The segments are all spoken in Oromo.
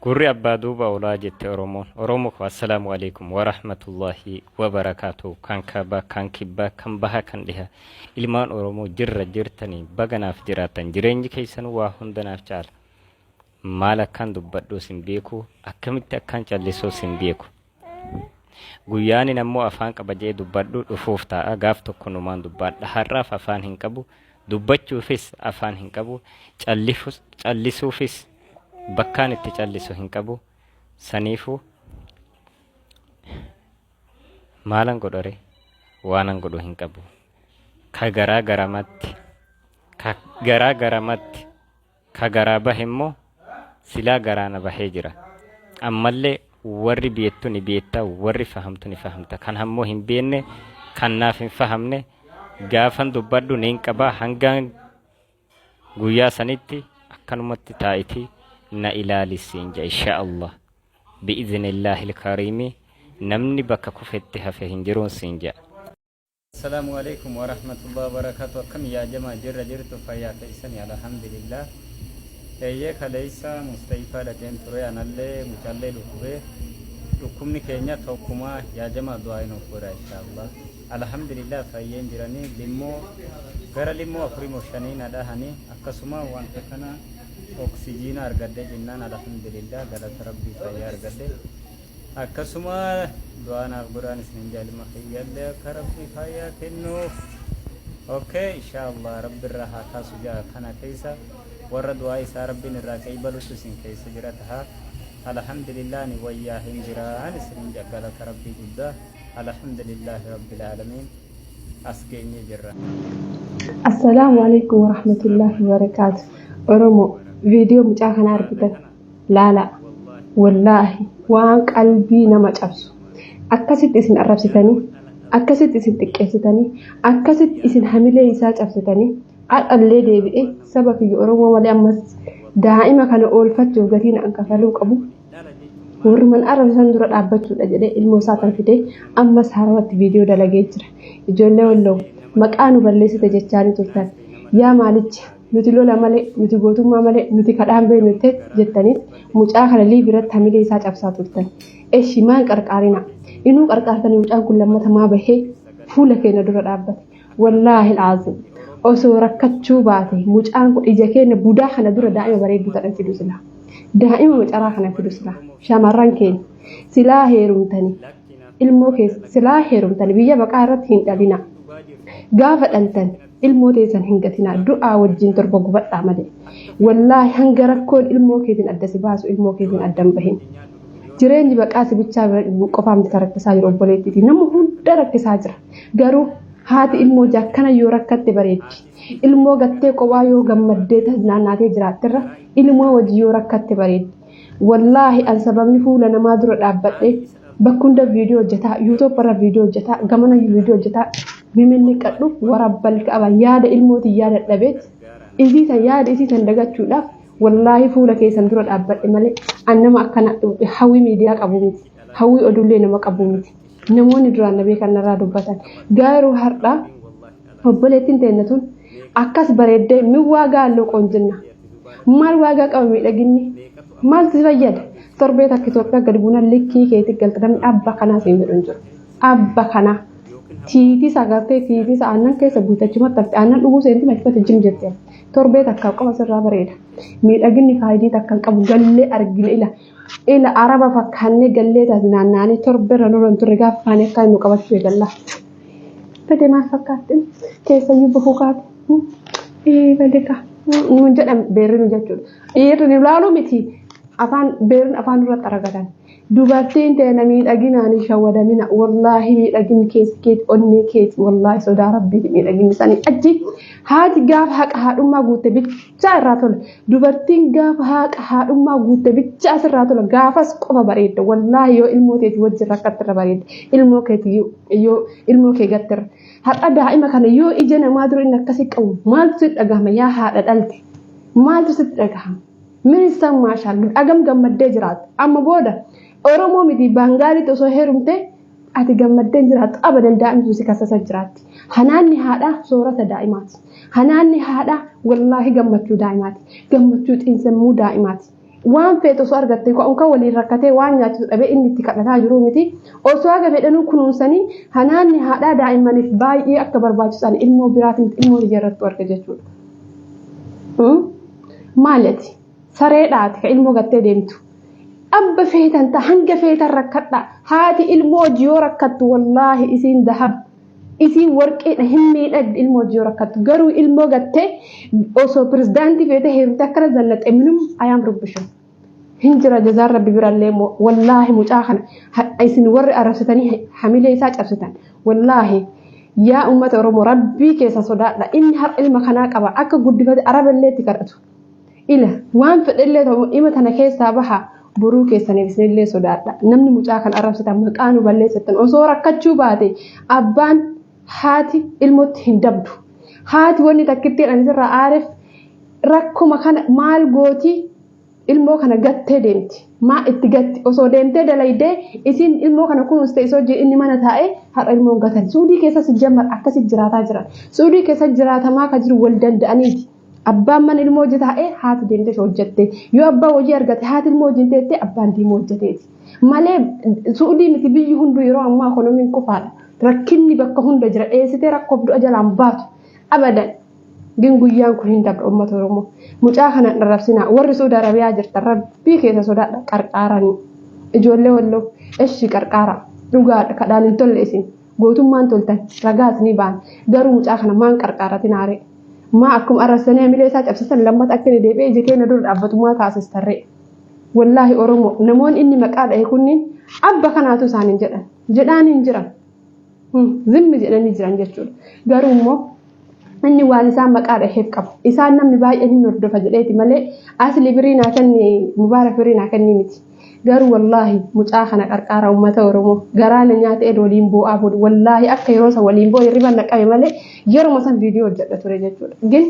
Gurri abbaa duuba olaa jette Oromoon. Oromo ko assalaamu alaikum wa rahmatullahi wa barakaatu. Kan kaaba, kan kibba, kan baha, kan dhiha. Ilmaan Oromoo jirra jirtanii baga naaf jiraattan. Jireenyi keessanuu waa hunda naaf caala. Maal akkaan dubbadhuus hin beeku, akkamitti akkaan callisuus hin beeku. Guyyaanin ammoo afaan qaba je'ee dubbadhu dhufuuf taa'a. Gaaf tokko numaan dubbaadha. Har'aaf afaan hin qabu. Dubbachuufis afaan hin qabu. Callifus- Callisuufis bakkaan itti callisu hin qabu. Saniifuu maalan godhore waanan godhu hin qabu. Ka garaa garamatti ka garaa garamatti Ka garaa bahe immoo silaa garaa na bahee jira. Ammallee warri beettu ni beetta, warri fahamtu ni fahamta. Kan hammoo hin beenne, kan naaf hin fahamne gaafan dubbadhu niin qaba. Hangaan guyyaa sanitti akkanumatti taa'iti na ilaali siin jedha inshaa Allah. Bi'izinillaahil kariimi namni bakka kufetti hafe hin jiruun siin jedha. Asalamu aleykum warahmatullahi wabarakatu akkami yaa jamaa jirra jirtu fayyaa keessani alhamdulillah eeyyee kaleessa mustayifaa dhaqeen ture anallee mucallee dhukkubee dhukkubni keenya tokkumaa yaa jamaa du'aa hin of godha inshaallah alhamdulillah fayyeen jiranii limmoo gara limmoo afurii moo shanii na dhahanii akkasuma wanta kana oksijiina argadhe jennaan alhamdulillah galata rabbii fayyaa argadhe Akkasuma du'aa naaf godhaan isinin jaal ilma kiyyallee akka rabbi fayyaa kennuuf okay inshaallah rabbi irraa haa kaasu ja'a kana keessa warra du'aa isaa rabbiin irraa qeeybalutu isin keessa jira taha alhamdulillah ani wayyaa hin jiraan isinin ja'a galata rabbii guddaa alhamdulillah rabbil aalamiin as geenye jirra. Assalaamu alaikum warahmatullahi wabarakaatu. Oromoo viidiyoo mucaa kana argitan Laalaa. Wallaahi. Waan qalbii nama cabsu. Akkasitti isin arrabsitanii. Akkasitti isin xiqqeessitanii. Akkasitti isin hamilee isaa cabsitanii. Har'allee deebi'ee saba kiyya Oromoo malee ammas daa'ima kana oolfachuuf gatii naan kafaluu qabu. Warruman arrabsan dura dhaabbachuudha jedhee ilmoo isaa kan fidee ammas haarawatti viidiyoo dalagee jira. Ijoollee Walloo maqaa nu balleessite jechaanii turtan. Yaa maalicha. Nuti lola malee, nuti gootummaa malee, nuti kadhaan beeknu tet jettaniit mucaa kana liiv irratti hamilee isaa cabsaa turtan. Eshi maan qarqaarina. Inuu qarqaartanii mucaan kun lammata maa bahee fuula keenya dura dhaabbate. Wallaahi alaaziim. Osoo rakkachuu baate mucaan kun ija keenya budaa kana dura daa'ima bareedduu tana fidu silaa. Daa'ima macaraa kana fidu silaa. Shamarran keenya silaa heerumtanii ilmoo keessa silaa heerumtanii biyya baqaa irratti hin dhalina. Gaafa dhaltan ilmoo teessan hin gatinaa du'aa wajjin torba gubadhaa malee wallaahi hanga rakkoon ilmoo keetiin adda si baasu ilmoo keetiin adda hin bahin jireenyi baqaa si bichaa qofaa miti rakkisaa jiru obboleettiiti nama hunda rakkisaa jira garuu haati ilmoo jaakkana yoo rakkatte bareeddi ilmoo gattee qophaa yoo gammaddee naannaatee jiraatterra ilmoo wajjin yoo rakkatte bareeddi wallaahi an sababni fuula namaa dura dhaabbadhee bakka hunda viidiyoo hojjetaa yuutuub irra viidiyoo hojjetaa gamana viidiyoo hojjetaa miminni qadhu warabbal ka'aba yaada ilmootiin yaada dhabeet isii san yaada isii san dagachuudhaaf wallaahi fuula keessan dura dhaabbadhe malee an nama akkana hawwii miidiyaa qabu miti hawwii oduullee nama qabu miti namoonni duraan na beekan narraa dubbatan garuu har'aa Obboleettiin teenna tun akkas bareeddee min waagaa alloo qoonjinna. Maal waagaa qaba miidhaginni? Maal si fayyada? Torbee takka Itoophiyaa gad buunan likkii keetii galta namni abba kanaa siin jedhu hin jiru. Abba kanaa. Tiitiis agartee tiitiis aannan keessa buute achumatti hafte aannan dhuguu seentiin achumatti jim jette. Torbee takka qofa sirraa bareeda. Miidhaginni faayidii takka hin qabu gallee argina ila. Ila araba fakkaannee gallee taate naannaanii torbeerra nurra hin turre gaafa kaanii akka nu qabachuu eegalla. Bade maal fakkaatte? Keessayyuu bahuu kaate. Ee bade kaa. Nuun jedhan beerri nu jechuudha. Dhiirri nu ilaaluu miti. Afaan beerri afaan irratti aragatan. Dubartiin teena miidhaginaan hin shawwadamina. Wallaahi miidhaginni keessa keeti onnee keeti. Wallaahi sodaa rabbiiti miidhaginni isaanii achi. Haati gaafa haqa haadhummaa guutte bitti. bichaa irraa tola. Dubartiin gaafa haaqa haadhummaa guutte bichaa sirraa tola. Gaafas qofa bareedda. Wallaahi yoo ilmoo teeti wajjin rakkattirra bareedda. Ilmoo keeti yoo ilmoo kee gattirra. Har'a daa'ima kana yoo ija namaa dura inni akkasii qabu maaltu sitti dhagahama yaa haadha dhalte? Maaltu sitti dhagahama? Ministan maashaallah agam gammaddee jiraata. Amma booda Oromoo miti Baangaalitti osoo heerumtee Ati gammaddee jiraattu abadan daa'imtu si kasasa jiraatti. Hanaanni haadhaa soorata daa'imaati. Hanaanni haadhaa wallaahi gammachuu daa'imaati. Gammachuu xiinsammuu daa'imaati. Waan feetu osoo argatte ka'umka waliin rakkatee waan nyaachisu dhabee inni itti kadhataa jiru miti. Osoo haga fedhanuu kunuunsanii hanaanni haadhaa daa'immaniif baay'ee akka barbaachisan ilmoo biraatiin ilmoo ijarrattu arga jechuudha. Maali ati? Sareedha ati ka ilmoo gattee deemtu. Abba feetan ta hanga feetan rakkadha. Haati ilmoo wajji yoo rakkattu wallaahi isiin dahab isiin warqiidha hin miidhagdi ilmoo wajji yoo rakkattu. Garuu ilmoo gattee osoo pirezidaantii feetee heerumtee akkana zallaxee minum ayaam rubbishu. Hin jira jazaan rabbi birallee immoo wallaahi mucaa kana hadha isin warri arrabsitanii hamilee isaa cabsitan wallaahi yaa uummata Oromoo rabbii keessa sodaadha inni har'a ilma kanaa qaba akka guddifate araballee itti kadhatu. Ila waan fedhellee ta'u dhima tana keessaa baha boruu keessaniif isinillee sodaadha. Namni mucaa kan arrabsitan maqaa nu balleessittan osoo rakkachuu baate abbaan haati ilmotti hin dabdu. Haati wanni takkittiin ani sirraa aareef rakkuma kana maal gooti ilmoo kana gattee deemti. Maa itti gatti osoo deemtee dalaydee isiin ilmoo kana kunuunste isoo jee inni mana taa'ee har'a ilmoon gatan. Suudii keessa sijjamar akkasi jiraataa jiran. Suudii keessa jiraatamaa ka jiru wal danda'aniiti. Abbaan mana ilmoo hojii taa'ee haati deemtee hojjattee yoo abbaan hojii argate haati ilmoo wajjin teettee abbaan diimoo hojjateeti. Malee suudii miti biyyi hunduu yeroo ammaa ekonomiin kufaadha. Rakkinni bakka hunda jira dheessitee rakkoof du'a jalaan baatu. Abadan gin guyyaan kun hin dabra uummata Oromoo. Mucaa kana hin arrabsinaa warri Suudi Arabiyaa jirtan rabbii keessa sodaadha qarqaaranii. Ijoollee walloo eshi qarqaara dhugaadha kadhaan hin tolle isin. Gootummaan toltan ragaas ni baan garuu mucaa kana maan qarqaaratin haaree maa akkuma arrabsanii hamilee isaa cabsisan lammata akka inni deebi'ee ija keenya dura dhaabbatu maa taasistarree wallaahi oromoo namoonni inni maqaa dhahe kunniin abba kanaatu isaaniin jedhan jedhaaniin jiran zimmi jedhanii jiran jechuudha garuu immoo Inni waan isaan maqaa dhaheef qaba. Isaan namni baay'een hin hordofa jedheeti malee asli birii naa kenni mubaarak birii naa kenni miti. Garuu wallaahi mucaa kana qarqaara uummata Oromoo garaa na nyaate ed waliin boo'aa bulu. Wallaahi akka yeroo san waliin boo'e hirriba na qabe malee yeruma san viidiyoo hojjedha ture jechuudha. Gin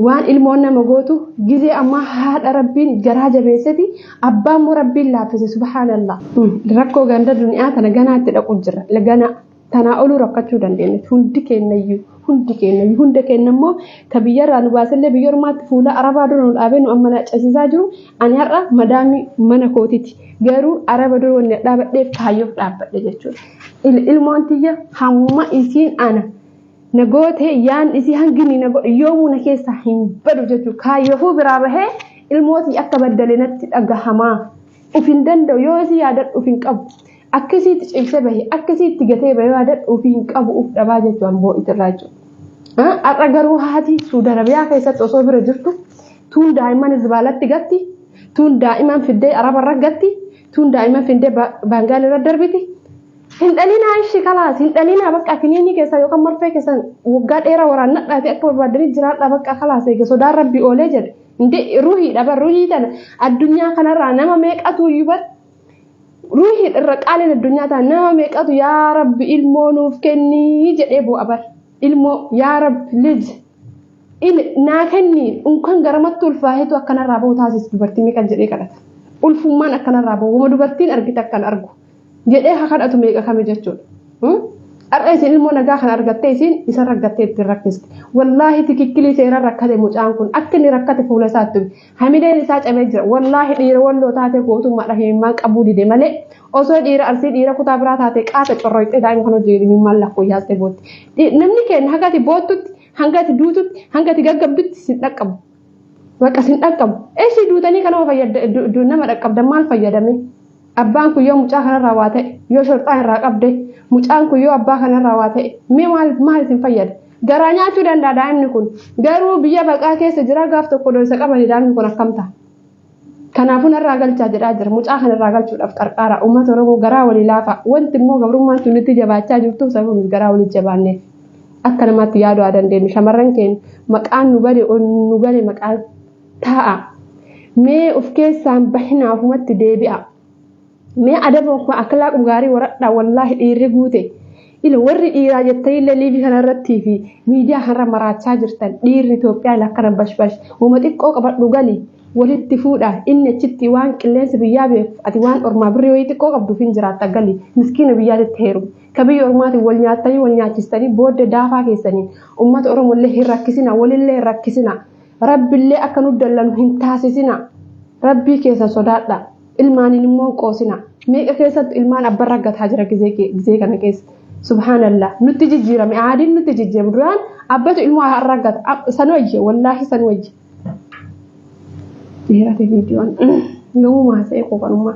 waan ilmoon nama gootu gizee ammaa haadha rabbiin garaa jabeesseti abbaa immoo rabbiin laaffise subhaanallah. Rakkoo ganda duniyaa tana ganaatti dhaqu jira ganaa. Tanaa oluu rakkachuu dandeenya. Hundi keenyayyuu hundi keenyayyuu hunda keenya immoo ka biyyarraa nu baasellee biyya ormaatti fuula arabaa dura nu dhaabee nu amma naacasiisaa jiru ani har'a madaamii mana kootiti. Garuu araba dura wanni dhaabadheef kaayyoof dhaabbadhe jechuudha. Ilmoon tiyya hamma isiin ana na goote yaan isii hanginni na godhe yoomuu na keessaa hin badu jechuudha. Kaayyoofuu biraa bahee ilmootii akka baddale natti dhagahamaa. Uf hin danda'u yoo isii yaadadhu uf hin qabu. Akka isii itti cimsee bahe akka isii itti gatee bahe waa dadhu ofii hin qabu of dhabaa jechuu an boo'it irraa jechuudha. Har'a garuu haati Suudi Arabiyaa keessatti osoo bira jirtu tuun daa'imman zibaalatti gatti tuun daa'imman fiddee araba irra gatti tuun daa'imman fiddee baangaal irra darbiti. Hin dhalinaa ishii kalaas hin dhalinaa bakka kiniinii keessan yookaan marfee keessan waggaa dheeraa waraannadhaati akka barbaadanii jiraadhaa bakka kalaas eega sodaan rabbi oolee jedhe. Hindi ruhii dhaba ruhii tana addunyaa kanarraa nama meeqatu iyyuu bar Ruuhiin irra qaaliin addunyaa ta'a nama meeqatu yaa rabbi ilmoo nuuf kennii jedhee bu'a bar. Ilmoo yaa rabbi lij il naa kennii unkan garamatti ulfaaheetu akkanarraa bahu taasisi dubartii meeqa jedhee kadhata. Ulfummaan akkanarraa bahu wama dubartiin argite akkan argu jedhee ha kadhatu meeqa kami jechuudha. Har'a isin ilmoo nagaa kan argattee isin isa raggattee ittiin rakkiste. Wallaahi tikikkilii seeraan rakkate mucaan kun akka inni rakkate fuula isaatti Hamileen isaa cabee jira. Wallaahi dhiira walloo taatee gootummaadha himimmaan qabuu dide malee osoo dhiira arsii dhiira kutaa biraa taatee qaata corroyxee daa'ima kan hojii himimmaan lakkuu yaastee bootti. Namni keenya hanga ati boottutti, hanga ati duututti, hanga ati gaggabdutti sin dhaqqabu. Bakka sin dhaqqabu. Eessi duutanii kanuma fayyada nama dhaqqabdan maal fayyadame? Abbaan kun yoo mucaa kanarraa waa ta'e yoo shorxaan irraa qabde mucaan kun yoo abbaa kanarraa waa ta'e mee maal maal isin fayyada? Garaa nyaachuu danda'a daa'imni kun garuu biyya baqaa keessa jira gaaf tokko dooysa qabanii daa'imni kun akkam ta'a? Kanaafuu narraa galchaa jedhaa jira mucaa kanarraa galchuudhaaf qarqaara uummata Oromoo garaa walii laafa wanti immoo gabrummaan sun itti jabaachaa jirtuuf sababni garaa walii jabaanneef akka namaatti yaaduu haa dandeenyu shamarran keenya maqaan nu bade nu bade maqaan Taa'a. Mee uf keessaan bahinaa ufumatti deebi'a. Mee adaba ufuma akhlaaqu gaarii waradhaa wallaahi dhiirri guute. Ila warri dhiiraa jettaniillee liivii kana irrattii fi miidiyaa kanarra maraachaa jirtan dhiirri Itoophiyaa ila akkana bashbash wama xiqqoo qabadhu gali walitti fuudha inni achitti waan qilleensa biyyaa beekuuf ati waan ormaa birrii wayii xiqqoo qabduuf hin jiraatta gali miskiina biyyaatitti heerumu. Ka biyya ormaatiin wal nyaattanii wal nyaachistanii booddee daafaa keessaniin uummata Oromollee hin rakkisina walillee hin rakkisina. Rabbillee akka nu dallanu hin taasisina. Rabbii keessa sodaadha. Ilmaaniin immoo hin qoosina. Meeqa keessatti ilmaan abban raggataa jira gizee kana keessa. Subhaanallah. Nutti jijjiirame. Aadiin nutti jijjiirame. Duraan abbatu ilmoo raggata. San wayye. Wallaahi san wayye. Dheerate viidiyoon. Yoomuu maasa'ee qooqanummaa.